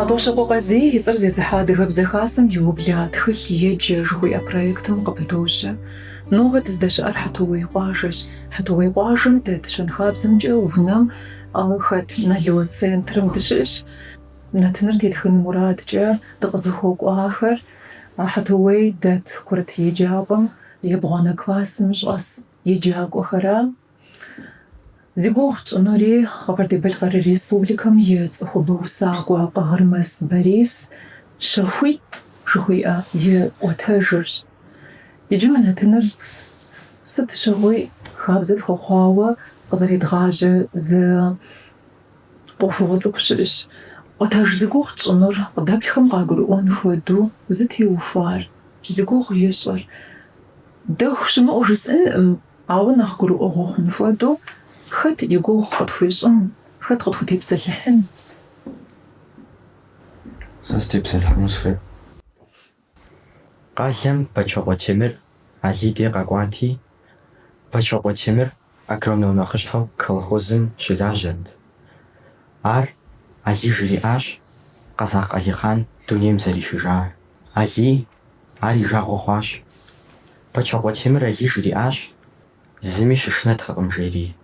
Хьэтӏохъущокъуэ Къазий и цӏэр зезыхьэ Адыгэбзэ Хасэм иубла Тхылъ еджэ жыхуиӏэ проектым къыпыдощэ. Нобэ дыздэщыӏэр Хьэтуей къуажэщ. Хьэтуей къуажэм дэт щэнхабзэмкӏэ унэм хэт Нало центрым дыщыӏэщ. Нэтыныр тетхын мурадкӏэ дыкъызыхуэкӏуахэр Хьэтуей дэт курыт еджапӏэм ебгъуанэ классым щӏэс еджакӏуэхэра. Зи гугъу тщӏынури, Къэбэрдей-Балъкъэр Республикэм и цӏыхубэ усакӏуэ Къагъырмэс Борис щэхуитӏ жыхуиӏэ и ӏуэтэжырщ. Иджы мы нэтыныр сыт щыгъуи хабзэ тхуэхъуауэ къызэредгъажьэ зы. Ӏуэхугъуэ цӏыкӏу щыӏэщ ӏуэтэж зи гугъу тщӏынур, къыдэплъхэм къагурыӏуэн хуэдэу зытеухуар, зи гугъу ищӏыр. Дэху щымыӏэу жысӏэнкъым, ауэ нэхъ гурыӏуэгъуэ хъун хуэдэу, хэт и гугъу къытхуищӏын, хэт къытхутепсэлъыхьын? Сэ сытепсэлъыхьыну сыхуейт. Къалэм Бэчокъуэ Темыр Алий дей къэкӏуати, Бэчокъуэ Темыр агроном нэхъыщхьэу колхозым щылажьэрт. Ар Алий жриӏащ Къэзакъ Алихъан дунейм зэрехыжар. Алий ар и жагъуэ хъуащ. Бэчокъуэ Темыр Алий жриӏащ, Зыми щышынэтэкъым, жери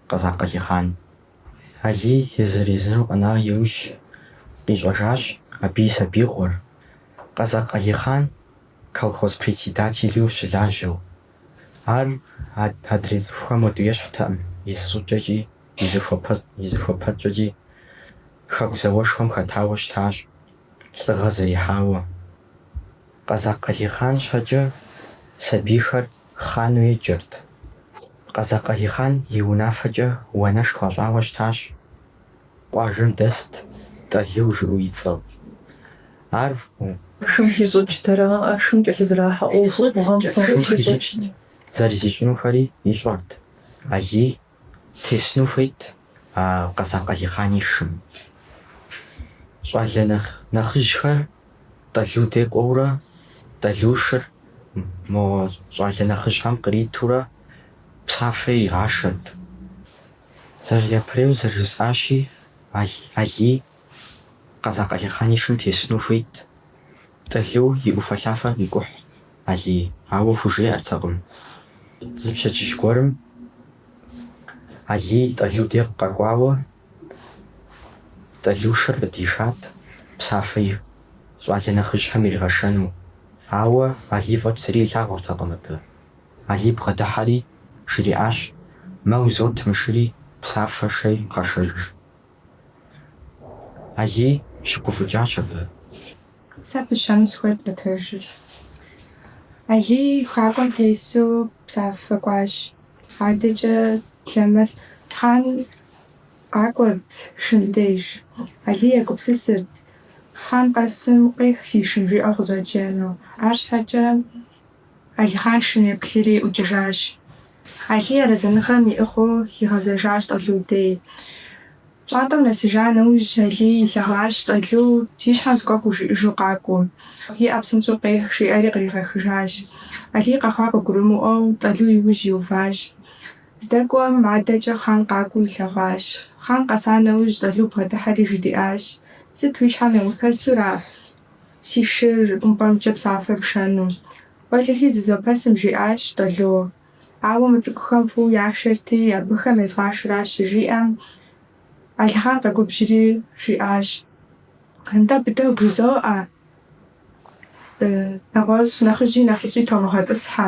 Къэзакъ Алихъан. Алий езыр-езыру къэна иужь, къищӏэжащ абы и сабиигъуэр, Къэзакъ Алихъан колхоз председателу щылажьэу. Ар адрей цӏыхухэм уэду ещхьтэкъым, и зыщӏыкӏэкӏи, и зыхуэпэкӏэкӏи Хэку зауэшхуэм хэтауэ щытащ, лӏыгъэ зэрихьауэ. Къэзакъ Алихъан щхьэкӏэ сабийхэр Хъану еджэрт. Къэзакъ Алихъан и унафэкӏэ уанэш хуащӏауэ щытащ. Къуажэм дэст Тӏалу жыӏэу и цӏэу. Ар шым хищӏыкӏтэрэ ар шым кӏэлъызэрахьэ ӏуэхугъуэ псом хищӏыкӏт. Зэрызищӏынухэри ищӏэрт. Алий Тесыну хуейт а Къэзакъ Алихъан и шым. Щӏалэ нэхъ нэхъыжьхэр Тӏалу дей кӏуэурэ, Тӏалу шыр мо щӏалэ нэхъыжьхэм къритурэ псафэ игъашэрт. Зэры, япэрейуэ зэрыжысӏащи, Алий Къэзакъ Алихъан и шым тесыну хуейт. Тӏалу и ӏуфэлъафэр къикӏухь Алий, ауэ хужеӏэртэкъым. Зы пщэдджыжь гуэрым Алий Тӏалу дей къэкӏуауэ Тӏалу шыр къыдишат псафэ и щӏалэ нэхъыжьхэм иригъэшэну, ауэ Алий фӏэкӏ зыри илъагъуртэкъым абы. Алий бгъэдыхьэри, жриӏащ, Мэ узот мы шыри псафэ шэи къэшэж. Алий щыгуфӏыкӏащ абы. Сэ пысщэну сыхуейт ӏуэтэжыр. Алий хакӏуэм тесу псафэ кӏуащ. Адэкӏэ лъэмыс Хъан къакӏуэрт шым деж. Алий егупсысырт, Хъан къэсым къех си шым жиӏэу къыщӏэджэну. Арщхьэкӏэ Алихъан шым еплъри ӏукӏыжащ. Алий арэзыныгъэм иӏыгъыу игъэзэжащ Тӏалу дей. Пщӏантӏэм нэсыжа нэужь, Алий илъэгъуащ Тӏалу зи щхьэм зыгуэр хужиӏэжу къакӏуэу. Иӏэ, псынщӏэу къех, жиӏэри къригъэхыжащ. Алий къэхъуар къыгурымыӏуэу, Тӏалу и ужь иуващ. Здэкӏуэм адэкӏэ Хъан къакӏуэу илъэгъуащ. Хъан къэса нэужь, Тӏалу бгъэдыхьэри жриӏащ, Сыт уи щхьэм еумыпэсура? Си шыр ӏумпӏэмкӏэ псафэ пшэну. Уэлэхьи зызопэсым, жиӏащ Тӏалу. Ауэ мы цӏыкӏухэм фӏыуэ яшэрти, абыхэм езгъашэращ щыжиӏэм, Алихъан къэгубжьри жиӏащ, Нтӏэ, быдэу бжызоӏэ, нэгъуэщӏ нэхъыжьи нэхъыщӏи томыгъэтӏысхьэ.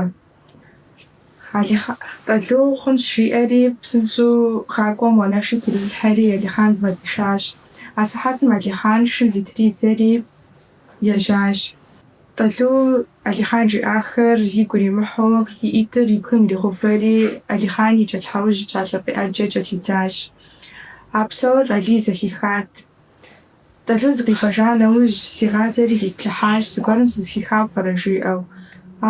Алихъан Тӏалу хъунщ, жиӏэри, псынщӏэу хакӏуэм уанэшыр трилъхьэри, Алихъан бгъэдишащ. Асыхьэтым Алихъан шым зытридзэри ежьащ. Тӏалу Алихъан жиӏахэр игу иримыхьу, и ӏитӏыр и бгым иригъэувэри, Алихъан и кӏэлъхьэужь псалъэ фӏей ӏэджэ кӏэлъидзащ. А псор Алий зэхихат. Тӏалу зыкъищӏэжа нэужь, зигъазэри зиплъыхьащ, зыгуэрым сызыхихауэ пӏэрэ жиӏэу.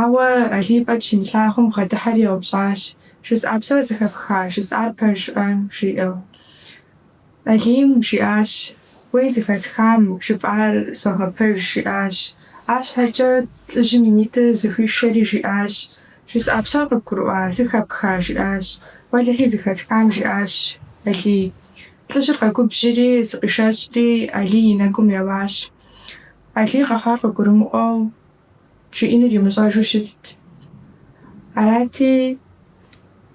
Ауэ Алий фӏэкӏ щимылъагъум, бгъэдыхьэри еупщӏащ, Жысӏа псор зыхэпха, жысӏар пэжкъэ? жиӏэу. Алийм жиӏащ, Уей зыхэсхам, жыпӏар согъэпэж, жиӏащ. Арщхьэкӏэ лӏыжьым и нитӏыр зыхуишэри жиӏащ, Жысӏа псор къыбгурыӏуа, зыхэпха? жиӏащ. Уэлэхьи, зыхэсхам, жиӏащ Алий. Лӏыжьыр къэгубжьри, зыкъишэщӏри, Алий и нэгум еуащ. Алий къэхъуар къыгурымыӏуэу, жиӏэнур имыщӏэжу щытт. Арати,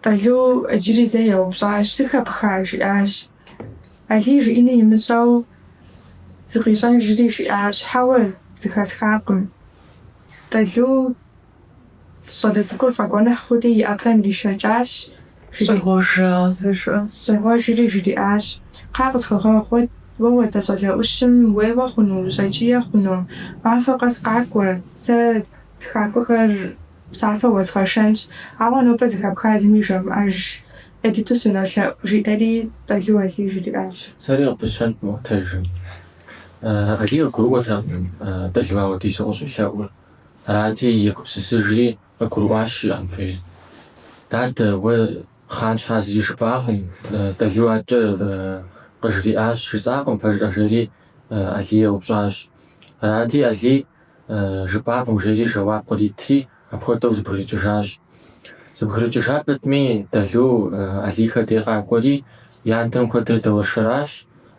Тӏалу иджыри зэ еупщӏащ, Зыхэпха? жиӏащ. Алий жиӏэнур имыщӏэу зыкъищӏэжри жиӏащ, Хьэуэ, зыхэсхакъым. Тӏалу. Щӏалэ цӏыкӏур фӏэгуэныхь хъури и ӏэплӏэм иришэкӏащ, жриӏащ. Щӏегъуэжри жриӏащ, Кхъа къысхуэгъэгъу, уэ хуэдэ щӏалэ ӏущым уеуэ хъуну, ущӏэкӏие хъуну? Махуэ къэс къакӏуэ, сэ хакӏуэхэр псафэ уэзгъэшэнщ, ауэ нобэ зыхэпха зыми жумыӏэж, ӏей дыдэу сынолъэӏу, жиӏэри Тӏалу Алий жриӏащ. Сэри къыпысщэнт мобдежым. Алий къыгурыӏуэтэкъым Тӏалу апхуэдизу къыщӏелъэӏур. Арати, егупсысыжри, къыгурыӏуащ, жиӏэн хуейр. Дадэ, уэ хъан щхьа зыри жыпӏакъым, Тӏэлу адэкӏэ къыжриӏащ, жысӏакъым пэжкъэ? жери Алий еупщӏащ. Арати, Алий жыпӏакъым, жери жэуап къритри, апхуэдэу зыбгрыкӏыжащ. Зыбгрыкӏыжа пэтми, Тӏэлу Алийхэ дей къакӏуэри, и адэм куэдрэ дэуэршэращ,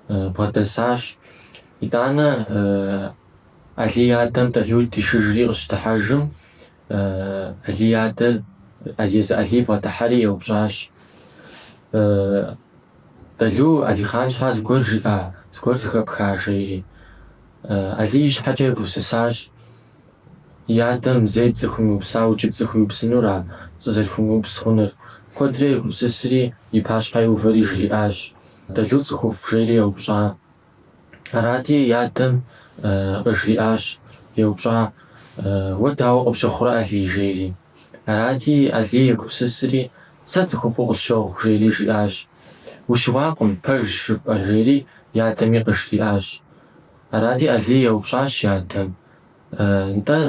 бгъэдэсащ. Итӏанэ, Алий и адэм Тӏэлу дишыжри къыщыдыхьэжым, Алий и адэр езы Алий бгъэдыхьэри еупщӏащ, Тӏэлу, Алихъан щхьэ зыгуэр жиӏа, зыгуэр зыхэпха? жери. Алий и щхьэкӏэ егупсысащ, И адэм зэи пцӏы хуимыупсауэ икӏи пцӏы хуиупсынура пцӏы зэрыхуимыупс хъунур? Куэдрэ егупсысри, и пащхьэ иувэри жриӏащ, Тӏэлу цӏыхуфӏ, жери еупщӏа Арати, и адэм къыжриӏащ, еупщӏа, Уэ дауэ къыпщыхъурэ, Алий? жери. Арати, Алий егупсысри, Сэ цӏыхуфӏу къысщохъу, жери жиӏащ. Ущыуакъым, пэжщ жыпӏэр, жери и адэми къыжриӏащ. Арати, Алий еупщӏащ и адэм, Нтӏэ,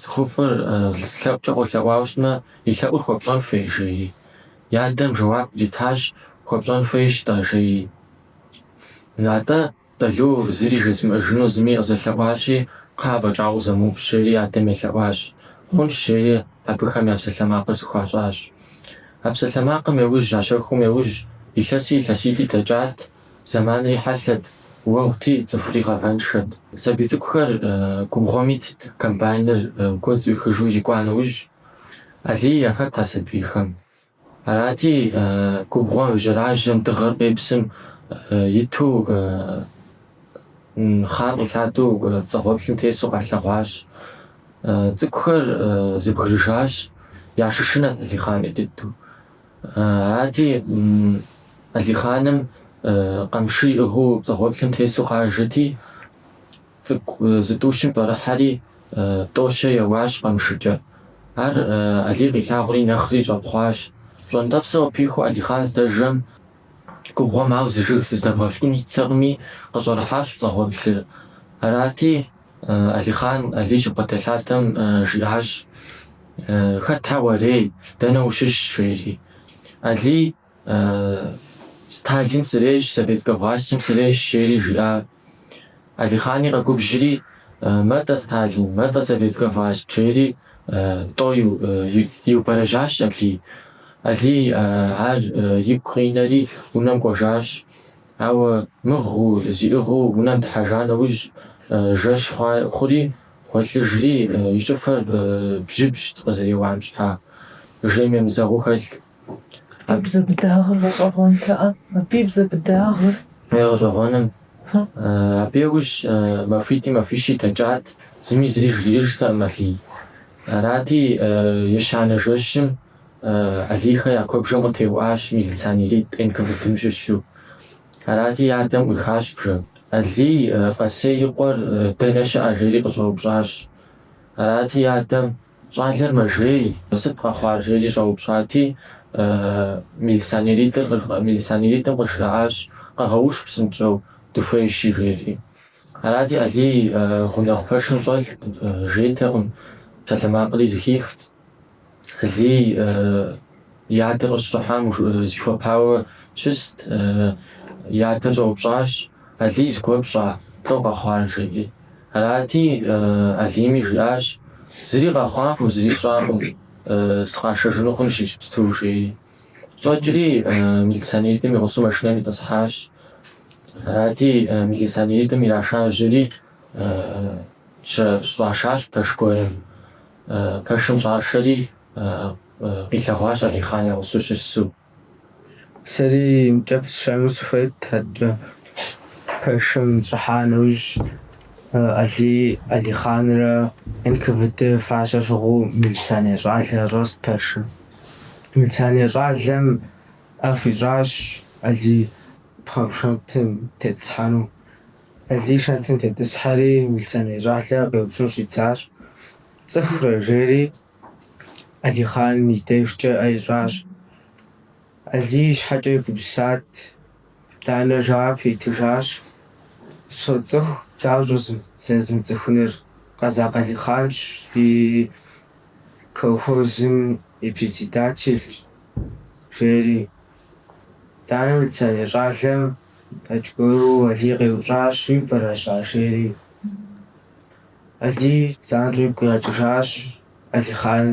цӏыхуфӏыр лъэӏукӏэ къолъэӏуауэ щытмэ, и лъэӏур хуэпщӏэн хуей? жери. И адэм жэуап къритащ, Хуэпщӏэн хуейщ-тӏэ, жери. Натӏэ, Тӏэлу зыри жезмыӏэжыну зыми къызэлъэӏуащи, кхъэ афӏэкӏа къызэмыупщӏ, жери и адэм елъэӏуащ. Хъунщ, жери абыхэм я псалъэмакъыр зыхуащӏащ. А псалъэмакъым яужь, а щэхум яужь, илъэси илъэситӏи дэкӏат, зэманри хьэлъэт, уэгъути, цӏыхури гъавэншэт. Сабий цӏыкӏухэр губгъуэм итт, комбайныр гуэдз ӏуихыжу ирикӏуа нэужь, Алий яхэт а сабийхэм. Арати, губгъуэм и жьэражьэм дыгъэр къепсым иту хъан къилъадэу пцӏэгъуэплъым тесу къалъэгъуащ. Цӏыкӏухэр зэбгрыжащ, ящышынэрт Алихъан ӏей дыдэу. Арати, Алихъаным къамышы иӏыгъыу пцӏэгъуэплъым тесу къажэти, Цӏыкӏу зытӏущым щӏэрыхьэри, тӏо-щэ еуащ къамшыкӏэ. Ар Алий къилъагъури нэхъри щӏэпхъуащ. Пщӏэнтӏэпсыр къыпихуу Алихъан здэжэм, губгъуэм ауэ зы жыг зыздэбгъэпщкӏун иттэкъыми, къыщӏэрыхьащ пцӏэгъуэплъыр. Арати, Алихъан Алий щыбгъэдэлъадэм жиӏащ, Хэтхэ уарей, дэнэ ущыщ? жери. Алий. Сталин сырещ, советскэ властым сырещ, жери жиӏа. Алихъани къэгубжьри, Мэ-тӏэ Сталин, мэ-тӏэ советскэ власт, жери тӏо иубэрэжьащ Алий. Алий ар игу къинэри унэм кӏуэжащ. Ауэ мыгъыу зиӏыгъыу унэм дыхьэжа нэужь, жэщ хъури, гъуэлъыжри, и щӏыфэр бжьыбжьт къызэреуам щхьа, жейм емызэгъыу хэлъ. Бзэ быдагъыр гъэщӏэгъуэнтэӏэ, абы и бзэ быдагъыр. Е гъэщӏэгъуэным. Абы яужь махуитӏи махуищи дэкӏат, зыми зыри жриӏэжтэкъым Алий. Арати, ещанэ жэщым Алийхэ я куэбжэм къытеуӏащ милиционеритӏ НКВД-м щыщу. Арати, и адэм ӏуихащ бжэр. Алий, Къэсей и къуэр дэнэ щыӏэ? жери къыщӏэупщӏащ. Арати, и адэм. Щӏалэр мэжей, сыт къэхъуар? жери щӏэупщӏати, милиционеритӏым къыжраӏащ, Къэгъэуш псынщӏэу, дыхуейщи, жери. Арати, Алий гъунэгъу пэшым щӏэлът, жейтэкъым, псалъэмакъри зыхихт. Алий. И адэр къыщыщӏыхьам зихуэпауэ щыст. И адэр щӏэупщӏащ, Алий зыгуэр пщӏа, лӏо къэхъуар? жеӏи. Арати, Алийми жиӏащ, Зыри къэхъуакъым, зыри сщӏакъым, сыкъашэжыну хъунщ иджыпсту, жеи. Щӏэкӏри, милиционеритӏым и гъусэу машинэм итӏысхьащ. Арати, милиционеритӏым ирашажьэри, щӏашащ пэш гуэрым. Пэшым щӏашэри, къилъэгъуащ Алихъан я гъусэу щысу. Сэри мыбкӏэ пысщэну сыхуейт адэкӏэ. Пэшым щӏыхьа нэужь, Алий Алихъанрэ НКВД фащэ щыгъыу милиционер щӏалэ щӏэст пэшым. Милиционер щӏалэм ӏэ хуищӏащ Алий пхъэ шэнтым тетӏысхьэну. Алий шэнтым тетӏысхьэри, милиционер щӏалэр къеупщӏыну щӏидзащ. Пцӏыхурэ? жери Алихъан и дежкӏэ ӏэ ищӏащ. Алий и щхьэкӏэ егупсысат, итӏанэ жэуап итыжащ. Соцӏыху, дауэ щӏэзмыцӏыхуныр? Къэзакъ Алихъанщ, ди колхозым и председателщ, жери. Итӏанэ милиционер щӏалэм Аргуэру Алий къеупщӏащ, Уиубэрэжьа, жери? Алий занщӏэу игу къигъэкӏыжащ Алихъан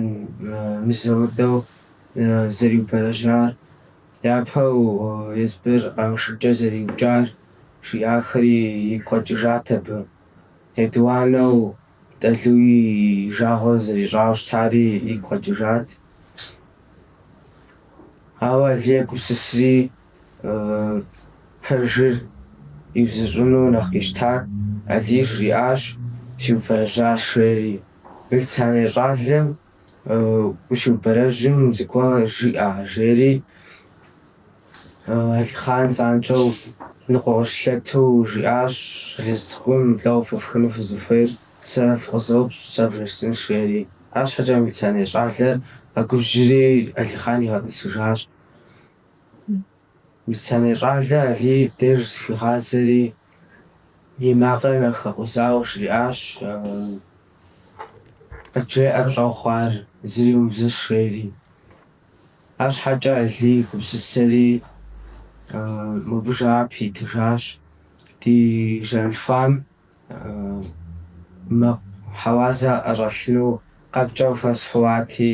мызэ-мытӏэу зэриубэрэжьар, япэу Езбыр къамышыкӏэ зэриукӏар, жиӏахэри игу къэкӏыжат абы. Етӏуанэу Тӏэлуи и жагъуэ зэрищӏауэ щытари игу къэкӏыжат. Ауэ Алий егупсысри, Пэжыр иузыщӏыну нэхъ къищтат Алий. Жриӏащ, Сиубэрэжьащ, жери. Милиционер щӏалэм ущиубэрэжьым зыгуэр жиӏа, жери Алихъан занщӏэу ныкъуэ къыщылъэту жиӏащ, Щӏалэжь цӏыкӏум лӏо къыпыфхыну фызыхуейр? Сэ фыкъызэупщӏ, сэ вжесынщ, жери. Арщхьэкӏэ милиционер щӏалэр къэгубжьри, Алихъан игъэтӏысыжащ. Милиционер щӏалэ Алий и деж зыхуигъазэри, и макъыр нэхъ хэкъузауэ жриӏащ, къыджеӏэр пщӏэу хъуар зыри умыбзыщӏ, жери. Арщхьэкӏэ Алий гупсысэри, мыбы жэуап итыжащ, ди жэм лъхуам мэкъу хьэуазэ ӏэщӏэлъыну къэпкӏэ хуэсхьати,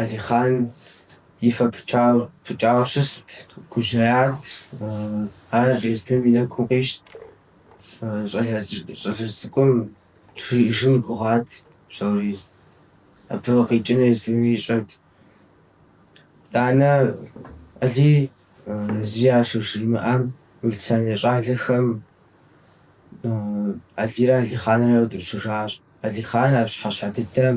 Алихъан и фэ пыкӏауэ щыст, гужьеят, ар езбым и нэгум къищт. Щӏалэ цӏыкӏум жиӏэжын гугъат псори, абы къикӏыну езбым ищӏэт. Итӏанэ Алий зи щажримыӏэм, милиционер щӏалэхэм Алийрэ Алихъанрэ яутӏыпщыжащ. Алихъан а пщыхьэщхьэ дыдэм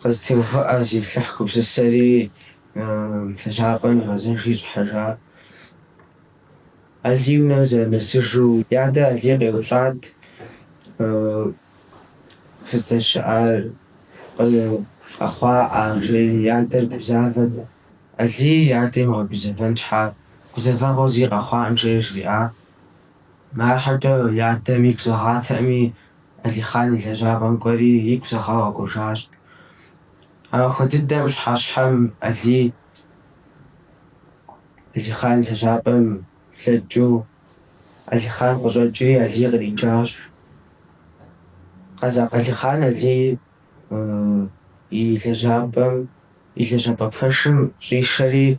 Къызэтеувыӏэ, зиплъыхь, гупсысэри лэжьапӏэм игъэзэжри щӏыхьэжа. Алий унэм зэрынэсыжу и адэр Алий къеупщӏат, Фыздэщыӏар къэхъуаӏа? жери. И адэр гузавэт. Алий и адэр имыгъэгузэвэн щхьа, гузэвэгъуэу зи къэхъуаӏым, жери жриӏа. Арщхьэкӏэ и адэм игу зэгъатэӏыми, Алихъан и лэжьапӏэм кӏуэри игу зэгъауэ къэкӏуэжащ. Махуэ дыдэм пщыхьэщхьэм Алий Алихъан лэжьапӏэм блэкӏыу Алихъан къыщӏэкӏри, Алий къриджащ. Къэзакъ Алихъан Алий и лэжьапӏэм и лэжьапӏэ пэшым щӏишэри,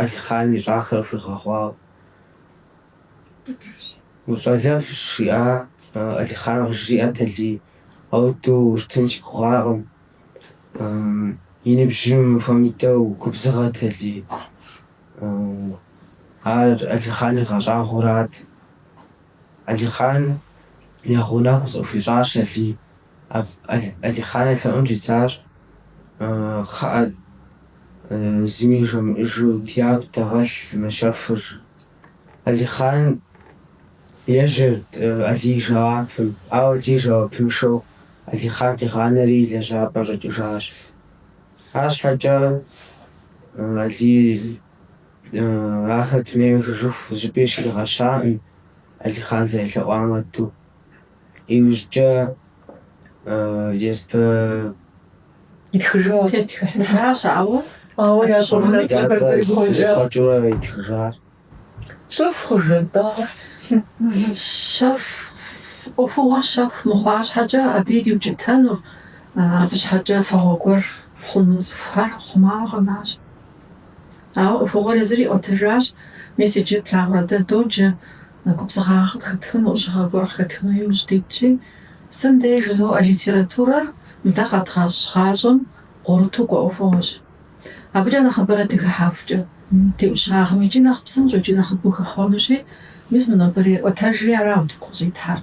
Алихъан ищӏахэр хуигъэгъуауэ. Ущӏалэфӏщ, жиӏа Алихъан къыжриӏэт Алий. Ауэду ущытын си гугъакъым. И ныбжьым хуэмыдэу губзыгъэт Алий. Ар Алихъан игъэщӏагъуэрат. Алихъан и гъунэгъу зыхуищӏащ Алий. Алихъан елъэӏун щӏидзащ, Кхъыӏэ, зыми жумыӏэжу дяку дэгъэлъ мы щэхур. Алихъан ежьэрт Алий и жэуапым, ауэ Алий жэуапыншэу Алихъан къигъанэри и лэжьапӏэм щӏэкӏыжащ. Арщхьэкӏэ Алий ахэр дунейм ехыжыху зыщӏыпӏи щригъэщаӏым, Алихъан зэрелъэӏуам хуэдэу. Иужькӏэ езым Итхыжащ. Итхыжащ, ауэ. Ауэ я цӏэ унэцӏэхэр зэрихъуэкӏа. Зэрихъуэкӏыурэ итхыжащ. Щэху хъужын-тӏэ ар. Щэху. ӏуэхугъуэр щэху мыхъуа щхьэкӏэ абы ириукӏытэнур, абы щхьэкӏэ фагъуэ гуэр хъуну цӏыхухэр хъумауэ къэнащ. Ауэ ӏуэхугъуэр езыр иӏуэтыжащ, мис иджы плъагъурэ дэ доджэ Губзыгъагъэ къыхэтхыну, ӏущыгъэ гуэр къыхэтхыну иужь дитщи, сытым деж жызоӏэ литературэр мы дэ къэдгъэщӏ гъащӏэм бгъурыту кӏуэ ӏуэхугъуэщ. Абыкӏэ нэхъыбэрэ дыхыхьэхукӏэ ди ӏущагъым икӏи нэхъ псынщӏэу икӏи нэхъыбэу хэхъуэнущи, мис мы нобэрей ӏуэтэжри арауэ утыку къыщӏитхьэр.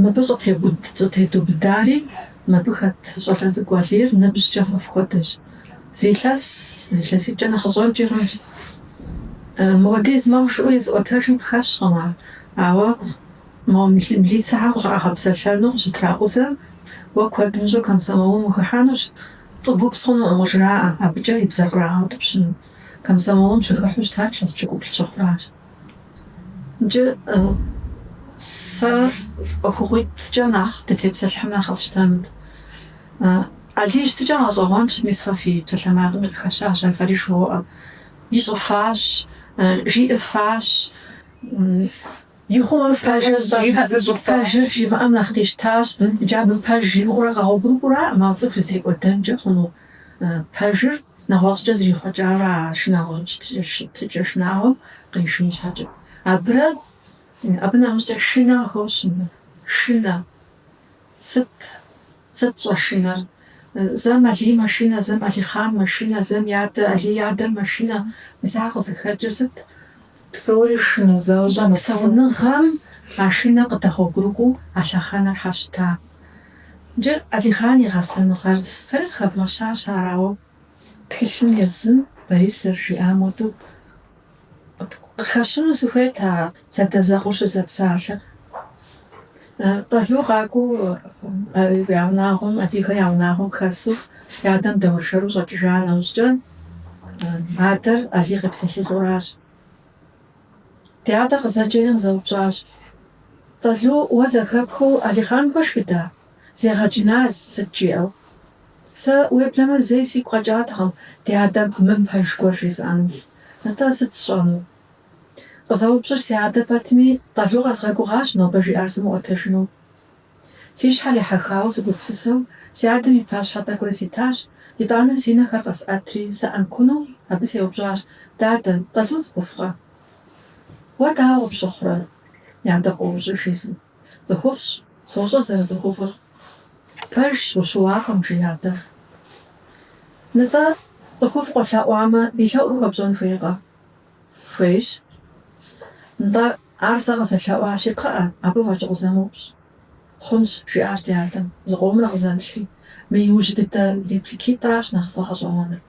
Мыбы щӏытебуд, щӏытедубыдари мыбы хэт щӏалэ цӏыкӏу Алийр ныбжькӏэ фэ фхуэдэщ. Зы илъэс илъэситӏкӏэ нэхъыщӏэнкӏэ хъунщ. Мыуэдиз мэхъу жыӏэу езыӏуэтэжым къыхэщкъым ар. Ауэ мо милицэхэр къыщӏагъэпсэлъэну къыщытракъузэм, уэ куэд мыщӏэу комсомолым ухыхьэнущ, пцӏы бупс хъунукъым къыжраӏэ, абыкӏэ и бзэр кърагъэутӏыпщыну. Комсомолым щыхыхьу щытар илъэс пщыкӏуплӏ щыхъуращ. Джы сэ ӏуэхугъуитӏкӏэ нэхъ дытепсэлъыхьмэ нэхъ къэсщтэнут. Алий щытыкӏэ гъэщӏэгъуэнщ, мис фэ фи псалъэмакъым къыхэщащ, афэрым! жывоӏэ. Ищӏыфащ, жиӏыфащ, ихъумэ пэжыр пэжыр жимыӏэм нэхъ къищтащ, иджы абы пэж жимыӏэурэ къэгъуэгурыкӏуэраӏым а цӏыху зытекӏуэдэнкӏэ хъуну. Пэжыр нэгъуэщӏкӏэ зэрихъуэкӏауэ а шынагъуэ щытыкӏэ шынагъуэм къришын щхьэкӏэ. Абырэ, абы нэмыщӏкӏэ шынэ къыхощ, шынэ, сыт, сыт щӏэшынэр? Зэм Алий мэшынэ, зэм Алихъан мэшынэ, зэм и адэ, Алий и адэр мэшынэ, мис ар къызыхэкӏыр сыт? Псори шынэу защӏэ мы псэуныгъэм а шынэр къыдэгъуэгурыкӏуэу а лъэхъэнэр щытащ. Иджы Алихъан и гъэсэныгъэр фэри къыхэвгъэщащ, арауэ тхылъым езым Борис зэрыжиӏам хуэдэу къыхэщыну сыхуейт а зэадэзэкъуэу щызэпсалъэр. Тӏалу къакӏуэу я унагъуэм, Алийхэ я унагъуэм хэсу и адэм дэуэршэру щӏэкӏыжа нэужькӏэ, адэр Алий къепсэлъылӏэуращ. Ди адэр къызэджэри къызэупщӏащ, Тӏалу уэ зэхэпхыу Алихъан хуэшхыда? Зегъэкӏыназ, сыт жиӏэу? Сэ, уеблэмэ, зэи сигу къэкӏатэкъым ди адэм мыпэж гуэр жесӏэну. Нтӏэ сыт сщӏэну? Къызэупщӏыр си адэ пэтми, Тӏалу къэзгъэгугъащ нобэ жиӏар сымыӏуэтэжыну. Си щхьэр ехьэхауэ сыгупсысэу, си адэм и пащхьэ тӏэкӏурэ ситащ, итӏанэ си нэхэр къэсӏэтри, сыӏэнкуну, абы сеупщӏащ, Дадэ, Тӏалу цӏыхуфӏкъэ? Уэ дауэ къыпщыхъурэ? И адэ къоупщӏыж езыр, Цӏыхуфӏщ, сощӏэ зэрыцӏыхуфӏыр. Пэжщ, ущыуакъым, жи адэм. Нтӏэ, цӏыхуфӏ къолъэӏуамэ, и лъэӏур хуэпщӏэн хуейкъэ? хуейщ. Нтӏэ, ар сэ къызэлъэӏуащи, кхъыӏэ, абы фӏэкӏ къызэмыупщӏ. Хъунщ, жиӏащ ди адэм, зыкъомрэ къызэплъри, мы иужь дыдэ репликитӏращ нэхъ сфӏэгъэщӏэгъуэныр.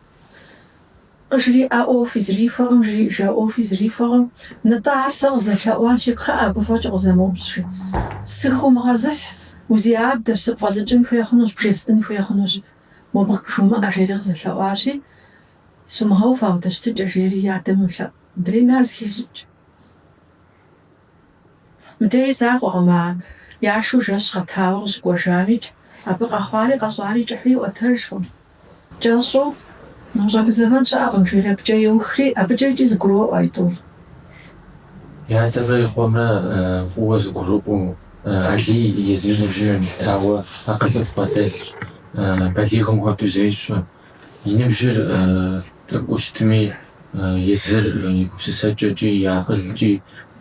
Къыжриӏа ӏуэхуи зрихуэкъым, жриӏжа ӏуэхуи зрихуэкъым. Нтӏэ, ар сэ къызэлъэӏуащи, кхъыӏэ, абы фӏэкӏ къызэмыупщӏ, жи. Сыхыумыгъэзыхь, усиадэщ, сыпфӏэлӏыкӏын хуей хъунущ, бжесӏын хуей хъунущ, мобы жумыӏэ, жери къызэлъэӏуащи, Сумыгъэув ауэдэ щытыкӏэ, жери и адэм йолъэӏу. Мыдрейми ар зыхещӏыкӏ. Мыдей закъуэкъым, а яшэу жэщ гъэтауэ къыщыкӏуэжамикӏ, абы къэхъуари къэщӏари кӏыхьу иӏуэтэжкъым. Кӏэщӏу, Ущӏэгузэвэн щыӏэкъым, жери абыкӏэ еухри, абыкӏэ икӏи зэгуроӏуэ а тӏур. И адэмрэ и къуэмрэ фӏыуэ зэгурыӏуэу, Алий езым и ныбжьым елъытауэ, акъылыфӏ бгъэдэлъщ, балигъым хуэдэу зещӏэ. И ныбжьыр цӏыкӏуу щытми, езыр и гупсысэкӏэкӏи и акъылкӏи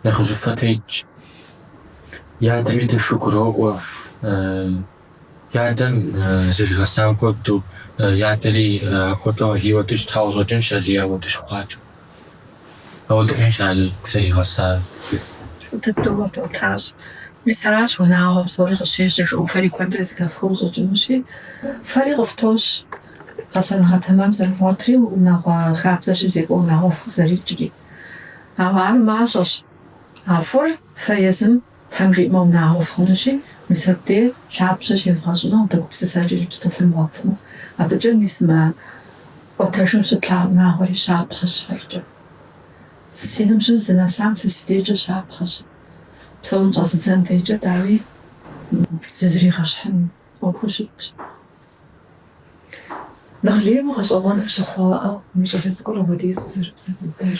нэхъыжьыфэ тетщ. И адэми тыншу гуроӏуэ, и адэм зэригъэсам хуэдэу, и адэри апхуэдэу Алий хуэдэу щытауэ щӏэкӏынщ, Алий апхуэдэу щыхъуакӏэ. Ауэдэу хъунщ Алий зэригъэсар. Фӏы дыдэу къэпӏуэтащ. Мис аращ унагъуэм псори къыщежьэр жаӏэу фэри куэдрэ зыхэфхыу щӏэкӏынущи. Фэри къыфтощ гъэсэныгъэ тэмэм зэрывгъуэтри, унагъуэ хабзэ щызекӏуэ унагъуэфӏ фыкъызэрикӏри. Ауэ ар мащӏэщ. А фӏыр фэ езым Тхьэм жиӏэмэ унагъуэ фхъунущи, мис абдей лъабжьэ щевгъэщӏыну дэ гупсысэкӏэ иджыпсту фымыгъуэтмэ. Абыкӏэ мис мы ӏуэтэжым щытлъэгъуа унагъуэри щапхъэщ фэркӏэ. Си ныбжьым здынэсам сэ си дежкӏэ щапхъэщ. Псэун щӏэзыдзэн дежкӏэ, дауи, зызригъэщхьын ӏуэхуу щытщ. Нэхъ лейуэ гъэщӏэгъуэну фщыхъуаӏэ мы щӏалэ цӏыкӏур апхуэдизу зэрыбзэ быдэр.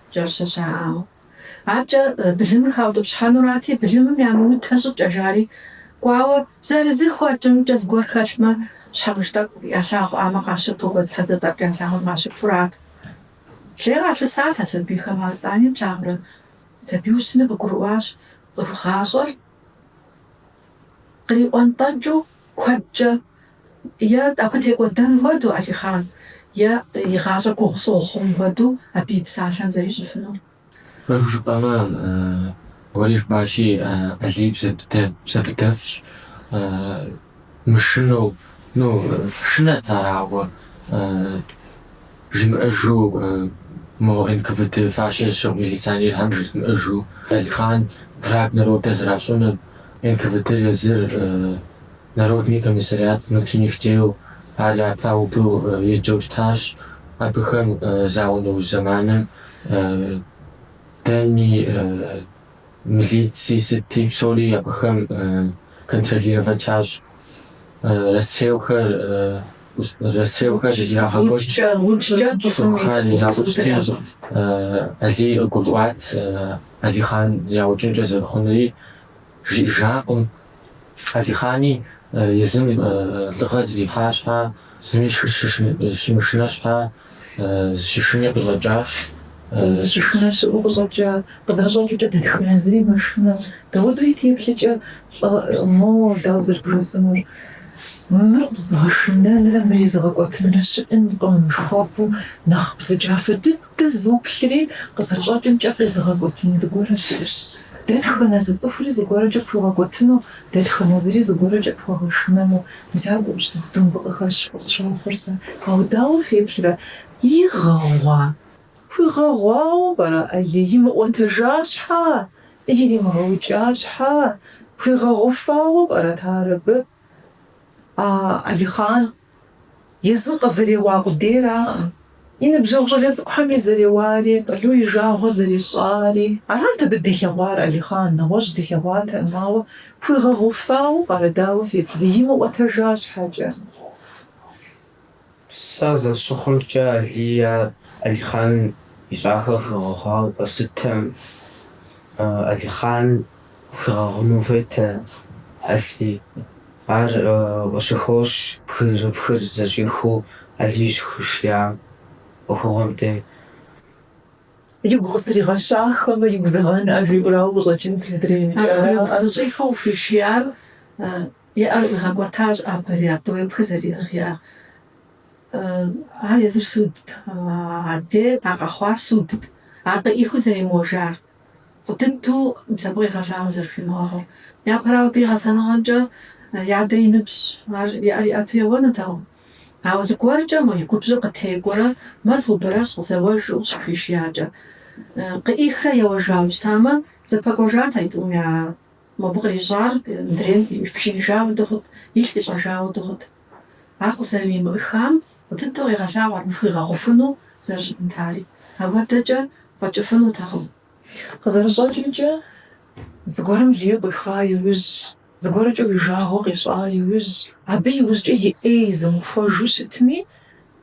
кӏэрыщэ щаӏауэ. Аркӏэ былымыр хаутӏыпщхьэнурати, былымым ямыутэ щӏыкӏэ жари, кӏуауэ зэрызыхуэкӏымкӏэ зыгуэр хэлъмэ, щхьэмыж тӏэкӏу ялъагъуӏамэ къащыпу, гуэдзхьэдзэ тӏэкӏу ялъагъуэм къащыпурат. Лей къалъысат а сабийхэм ар тӏани плъагъурэ. Сабийуэ щыту къыгурыӏуащ, цӏыху гъащӏэр къриӏуэнтӏэкӏыу куэдкӏэ Е абы текӏуэдэн хуэдэу, Алихъан, е и гъащӏэ гугъу щыхъун хуэдэу абы и псалъэм зэрищӏыфынур. Фэру жыпӏэмэ, уэри жыпӏащи, Алий бзэ быдэфӏщ, мышынэу, ну, шынэт ар, ауэ, жимыӏэжу, мо НКВД фащэ щыгъ милиционерхэм жызмыӏэжу, Алихъан враг народа зэращӏынур, НКВД-р езыр Народный комиссариат внутренних дел ар апхуэдэу еджэу щытащ, абыхэм зауэ нэужь зэманым дэни, милици сыти псори абыхэм контролировать ящӏ, расстрелхэр ирагъэкӏуэкӏ, цӏыхухэр яукӏырти Алий къыгурыӏуат Алихъан яукӏынкӏэ зэрыхъунури. Жиӏэжакъым, Алихъани езым лӏыгъэ зрихьа щхьа, зыми щымышынэ щхьа, зыщышыни къыщӏэкӏащ. Зыщышынэ щыӏэу къыщӏэкӏа, къызэрыщӏэкӏыукӏэ дэтхэнэ зыри мэшынэ. Дауэду и теплъэкӏэ лӏыгъэ, мо дауэ зэрыбжесӏэнур? Мыр къэзыгъэшынэнрэ мыр езыгъэкӏуэтынрэ щыӏэнкъым, жыхуэпӏэу нэхъ бзаджафэ дыд Дэ зуплъри, къызэрыщӏэкӏымкӏэ, къезыгъэкӏуэтын зыгуэрэ щыӏэщ. Дэтхэнэ зы цӏыхури зыгуэркӏэ пхуигъэкӏуэтыну, дэтхэнэ зыри зыгуэркӏэ пхуэгъэшынэну мис апхуэдэу щыту хуэдэу мыбы къыхэщ къысщохъур сэ. Ауэ дауэ феплърэ? Игъэгъуа? Хуигъэгъуауэ пӏэрэ, Алий? Имыӏуэтэжа щхьа? Иримыгъэукӏа щхьа? Хуигъэгъуфауэ пӏэрэт ар абы? А, Алихъан, Езы къызэреуа къудейраӏым. И ныбжьэгъу щӏалэ цӏыкӏухэми зэреуари, Къалу и жагъуэ зэрищӏари. Арат абы дилъэгъуар, Алихъан, нэгъуэщӏ дилъэгъуатэкъым, ауэ хуигъэгъуфауэ пӏэрэ, дауэ феплъ, имыӏуэтэжа щхьэкӏэ. Сэ зэрысщыхъумкӏэ, Алий Алихъан ищӏахэр хуигъэгъуауэ къэсытэм, Алихъан. Хуигъэгъуну хуейтэ Алий. Ар къыщыхощ бгырыпхыр зэщӏихыу Алий щыхуишиям ӏуэхугъуэм дей. Игу къыстригъэщахэмэ, игу зэгъэнӏэ, жиӏэурэ ауэ къыщӏэкӏынт мыдрей. Бгырыпх зэщӏихыу къыхуишиям и ӏэр къигъэкӏуэтащ апэри, а бгырыпхыр зэриӏыгъиам. Ар езыр судт, адэ а къэхъуар судт, ар къыӏихыу зэремыуэжар. Фӏы дыдэу мис абы къегъэлъагъуэ зэрыхуимыгъэгъур. Япэрауэ, абы и гъэсэныгъэмкӏэ и адэ и ныбжь, ар и ӏэр иӏэту еуэнутэкъым. Ауэ зыгуэркӏэ мы и губжьыр къытекӏуэрэ мэ, субэрэжь, къызэуэжу щыхуишиякӏэ. Къыӏихрэ еуэжауэ щытамэ, зэпэкӏуэжат а и тӏум я. Мобы кърищӏар мыдрейм ипшыныжауэ дыхъут, илъ ищӏэжауэ дыхъут. Ар къызэрыӏимыхам фӏы дыдэу къегъэлъагъуэ ар мыхуигъэгъуфыну зэрыщытынтари. Ауэдэкӏэ фӏэкӏыфынутэкъым. Къызэрыщӏэкӏымкӏэ, зыгуэрым лей къуиха иужь, зыгуэркӏэ уи жагъуэ къищӏа иужь, абы иужькӏэ и ӏей зумыхуэжу щытми,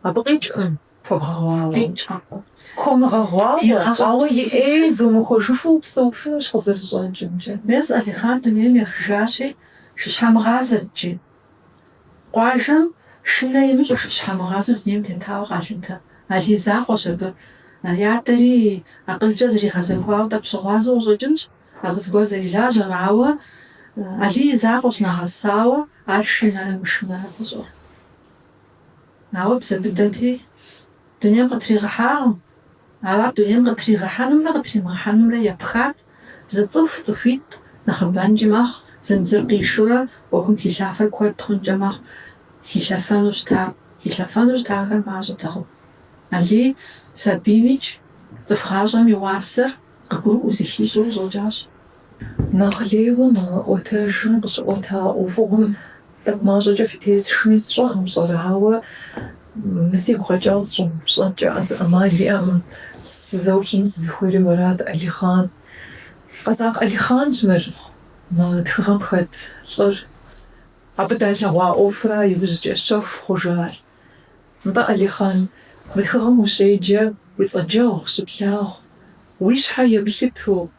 абы къикӏкъым хуэбгъэгъуауэ. Къикӏкъым. Хуумыгъэгъуауэ, ауэ и ӏей зумыхуэжыфу упсэуфынущ, къызэрыщӏэкӏымкӏэ. Мес Алихъан дунейм ехыжащи, шыщхьэмыгъазэрт икӏи. Къуажэм шынэ имыщӏу шыщхьэмыгъазэу дунейм тетауэ къалъытэ. Алий закъуэщ абы. И адэри акъылкӏэ зригъэзэхуауэ тӏэкӏу щыгъуазэу къыщӏэкӏынщ, абы зыгуэр зэрилажьэм. Ауэ Алий и закъуэщ нэгъэсауэ ар шынэрэ мышынэрэ зыщӏэр. Ауэ бзэ быдэти дунейм къытригъэхьакъым. Ар дунейм къытригъэхьэнумрэ къытримыгъэхьэнумрэ епхат, зы цӏыху цӏыхуитӏ нэхъыбэнкӏи мэхъу, зым зыр къишурэ ӏуэхум хилъафэр куэд хъункӏэ мэхъу, хилъэфэну щытар, хилъэфэну щытахэр мащӏэтэкъым. Алий сабиймикӏ цӏыху гъащӏэм и уасэр къыгурыӏуэу зыхищӏэу къыщӏэкӏащ. Нэхъ лейуэ мы ӏуэтэжым къыщыӏуэта ӏуэхугъуэм тӏэкӏу мащӏэкӏэ фытесшми сщӏэркъым, пщӏэрэ, ауэ мыр сигу къэкӏауэ сыщӏэмыупщӏэнкӏэ а зы ӏэмал иӏэкъым, сызэупщӏыну сызыхуейри уэрат, Алихъан. Къэзакъ Алихъанщ мыр, мы тхыгъэм хэт лӏыр. Абы далъэгъуа ӏуэхура иужькӏэ щэху хъужар? Нтӏэ, Алихъан, мы тхыгъэм ущеджэ, уи цӏэджэгъу щыплъагъу, уи щхьэ еплъыту,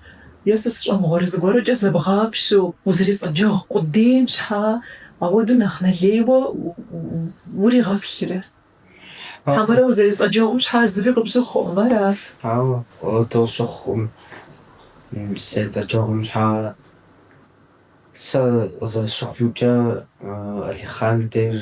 е сэ сщӏэмыгъуэрэ зыгуэркӏэ зэбгъапщэу узэрицӏэджэгъу къудейм щхьа ауэду нэхъ нэлейуэ уригъэплърэ? Хьэмэрэ узэрицӏэджэгъум щхьа зыри къыпщыхъуӏым ара? Ауэ, ауэдэу щыхъуӏым. Сызэрицӏэджэгъум щхьа сэ къызэрысщыхъумкӏэ Алихъан деж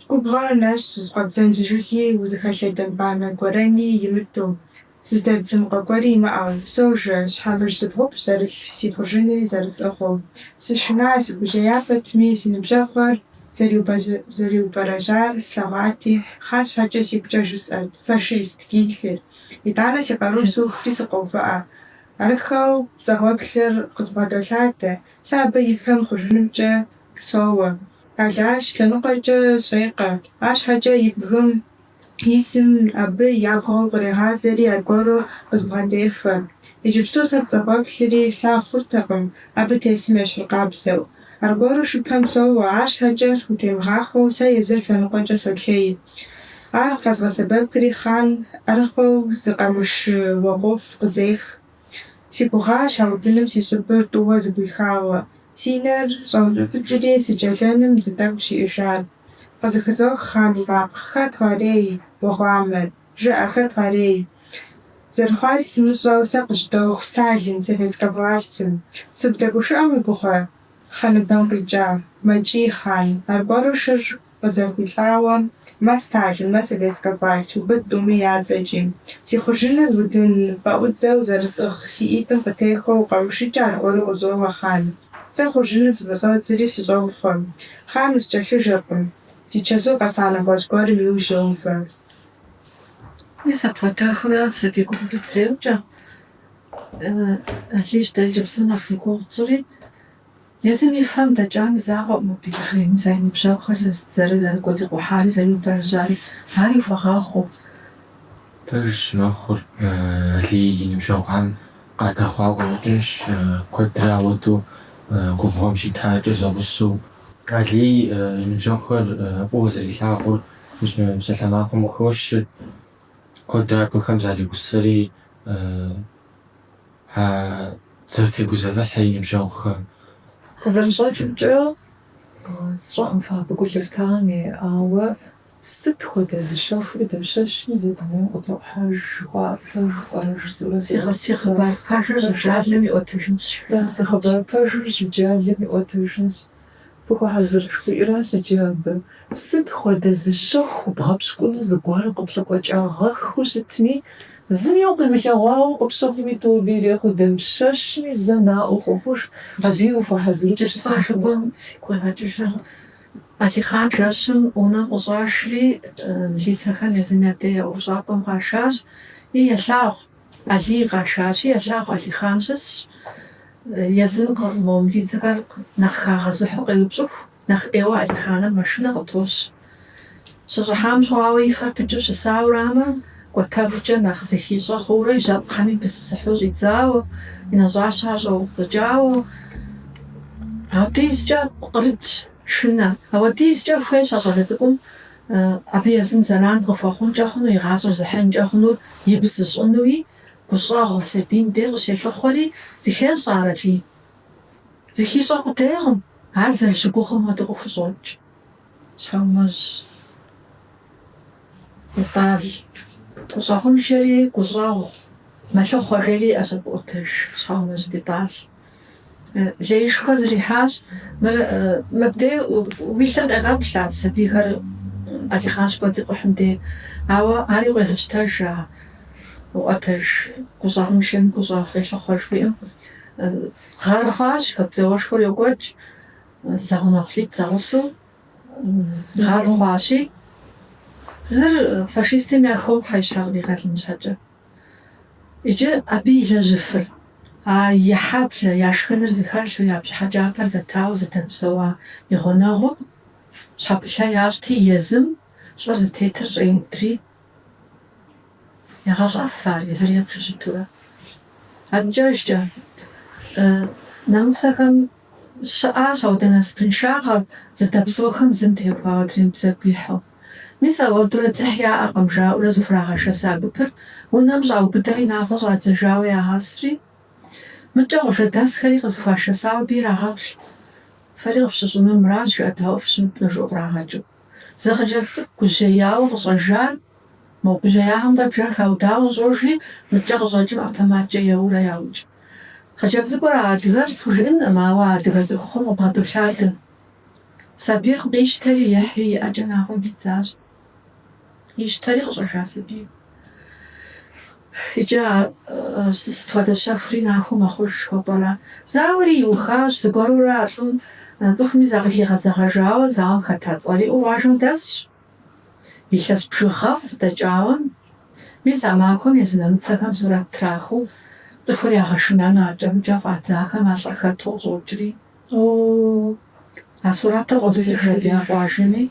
Губгъуэр нэщӏ зызыкъуэбдзэн зы жыги, узыхэлъэдэн банэ гуэрэни имыту, зыздэбдзын къуэ гуэри имыӏэу, сожэ, щхьэмыж зыбгъупщӏ зэрылъ си хъуржынри зэрысӏыгъыу. Сышына, сыгужьея пэтми, си ныбжьэгъухэр зэриубэрэжьар слъэгъуати, Хъан щхьэкӏэ сигукӏэ жысӏэрт, фашист, Гитлер. Итӏанэ си къару сухри сыкъоувыӏэ. Арыххэу пцӏэгъуэплъыр къызбгъэдолъадэ, сэ абы и пэм хъуржынымкӏэ Соуэ. Алащ лъэныкъуэкӏэ щӏекъэ. Арщхьэкӏэ и бгым исым абы ябгъэу кърегъазэри аргуэру къызбгъэдехуэ. Иджыпсту сэ пцӏэгъуэплъри слъагъу хъуртэкъым, абы тесым ещхьыркъабзэу. Аргуэру шыпэм соуэ, арщхьэкӏэ схутемыгъахуэу сэ езыр лъэныкъуэкӏэ солъей. Ар къэзгъэсэбэпри Хъан ӏэрыхуэу зы къамышы уэгъуэфӏ къызех. Си гугъащ а удыным си щӏыбыр тӏууэ зэгуихауэ, си нэр щӏэункӏыфӏыкӏри сыджэлэным зы тӏэкӏущ иӏэжар. Къызыхызох Хъан и макъ, хэт уарей, уэ гъуамэр? Жыӏэ, хэт уарей? Зэрыхъуари сымыщӏэу, сэ къызжьэдоху, Сталин, советскэ властым. Сыбдэгушыӏэм уи гугъэ? Хьэ ныбэм къикӏа, мэкӏий Хъан, аргуэру шыр Къызэхуилӏауэ мэ Сталин, мэ Советскэ власть, убыд тӏуми я цӏэкӏи. Си хъуржыныр удын пэӏудзэу зэрысӏыгъ си ӏитӏым къытехуэу къамышыкӏэ аргуэру къызоуэ Хъан. Сэ хъуржыныр зыфӏыщӏэдзри сыщӏопхъуэ. Хъан къыскӏэлъыжэркъым. Зи чэзур къэса нэгъуэщӏ гуэрым иужь йоувэ. Мис апхуэдэхурэ сабий гупым дызэтреукӏэ. Алийщ дэ иджыпсту нэхъ зи гугъу тщӏыри. Езым и фэм дэкӏам закъуэӏым мыбы игъейм зэ и ныбжьэгъухэр зэры зэрыкӏуэцӏикъухьари, зэриубэрэжьари. Ари хуэгъэхъуу. Пэжщ, мэхъур Алий и ныбжьэгъухэм къадэхъуауэ къыщӏэкӏынщ, куэдрэ ауэдэу губгъуэм щитакӏэ зэгъусэу. Алий и ныбжьэгъухэр фӏыуэ зэрилъагъур псалъэмакъым къыхощ, куэдрэ абыхэм заригъусэри. а зэрытегузэвыхьыр и ныбжьэгъухэм. Къызэрыщӏэкӏымкӏэ, сщӏэӏым фэ абы гу лъыфтами, ауэ сыт хуэдэ зы щэхури дапщэщми зэ дунейм къытохьэж жыхуаӏэр пэжу пӏэрэ жысӏэурэ сигъэсэбэп. Си хъыбар пэжыр жьыджалэм иӏуэтэжынщ, жиӏащ. Си хъыбар пэжыр жьыджалэм иӏуэтэжынщ. Фыхуэхьэзыр жыхуиӏэращ иджы абы. Сыт хуэдэ зы щэху бгъэпщкӏуну зыгуэр къыплъыкъуэкӏагъэххэу щытми, зыми укъимылъэгъуауэ къыпщыхъуми, тобэ ирехъу дапщэщми зэ наӏуэ хуэхъуж, абыи ухуэхьэзыркӏэ щытащ гугъэу. Сигу къегъэкӏыжыр Алихъан жэщым унэм къыщӏашри, милицэхэм езым я дей я ӏуэхущӏапӏэм къашащ, и елъагъу. Алий къашащи, елъагъу Алихъан щысщ. Езым къы мо милицэхэр нэхъ хагъэзыхьу къеупщӏыху, нэхъ ӏейуэ Алихъаныр мэшынэ къытощӏ. Щыщӏыхьам щыгъуэ и фэр пыкӏыу щысауэрамэ, кӏуэтэхукӏэ нэхъ зыхищӏэ хъуурэ и жьэпкъыми пысысыхьу щӏидзауэ, и нэщӏащэр щӏэуфӏыцӏыкӏауэ. Ауэдизкӏэ кърытщ шынэ. Ауэдизкӏэ хуейщ а щӏалэ цӏыкӏум. Абы езым зэран къыхуэхъункӏэ хъуну, и гъащӏэр зыхьынкӏэ хъуну, ибэ зыщӏынуи, гущӏэгъу сабийм дей къыщелъыхъуэри, зыхещӏэ ар Алий. Зыхищӏэ къудейкъым, ар зэрыщыгугъым хуэдэу къыхущӏокӏ. Щхьэумэжь Бетӏал, гущӏэгъуншэри гущӏэгъу мэлъыхъуэ, жери иӏэщ абы ӏуэтэж. Щхьэумэжь Бетӏал. Леишхуэ зэрихьащ. Мыр, мыбдей уи лъыр къегъэплъ а сабийхэр Алихъан щыкӏуэцӏикъухьым де. Ауэ ари къуегъэщтэж, а ӏуэтэж, гущӏэгъуншэм гущӏэгъу къелъыхъуэ жыхуиӏэм. Гъэр хъуащ, Хэку зауэшхуэр йокӏуэкӏ, зэгъунэгъу лӏитӏ зэгъусэу гъэр хъуащи, зыр фашистым яхохьэ и щхьэ къригъэлын щхьэкӏэ. Иджы абы илэжьыфыр, а и хьэблэ я шхыныр зэхэлъу я бжыхь кӏапэр зэтауэ зыдэпсэуа и гъунэгъум щхьэпылъэ ящӏти, езым лӏыр зытетыр щӏеудри егъэлӏэф ар езыр еплъу щытурэ. Адэкӏэжкӏэ нэмыцэхэм щыӏащ ауэдэ насыпыншагъэ, зэдэпсэухэм зым теухуауэ адрейм бзэгу ихьу. Мис ауэдурэ дзыхь яӏэкъым, жаӏэурэ зыхурагъэшэса гупыр унэм щӏаубыдэри нафӏэ щӏадзэжауэ ягъэсри, мыдкӏэ къуажэдэсхэри къызыхуашэсауэ абы ирагъэплъ. Фэри къыфщыщӏынур мыращ, жыӏэдаӏуэу фыщымытмэ, жаӏэу кърагъэкӏыу. Зы хъыджэбз цӏыкӏу гужьеяуэ къыщӏэжар, мо гужьеягъэмкӏэ бжэр хаудауэ къыщӏожри, мыдкӏэ къыщӏэкӏым автоматкӏэ еуэурэ яукӏ. Хъыджэбз цӏыкӏур адыгэр схужыӏэнкъым, ауэ адыгэ цӏыхухъум къыбгъэдолъадэ. Сабийр къищтэри ихьри и ӏэкӏэ нафӏэм хидзащ. Ищтэри къыщӏэжа сабийр. Икӏи ар сыт хуэдэ щэхури нахуэу мэхъуж жыхуэпӏэра? Зауэри иухащ, зыгуэрурэ а лӏым цӏыхуми закъыхигъэзэгъэжауэ зауэм хэта цӏэр иӏэу къуажэм дэсщ. Илъэс бжыгъэфӏ дэкӏауэ, мис а махуэм езы нэмыцэхэм сурэт трахыу цӏыхур ягъэшынэну адкӏэ-мыдкӏэ фӏадзахэм а лӏыр хэту къыщӏокӏри. А сурэтыр къосыж абы я къуажэми,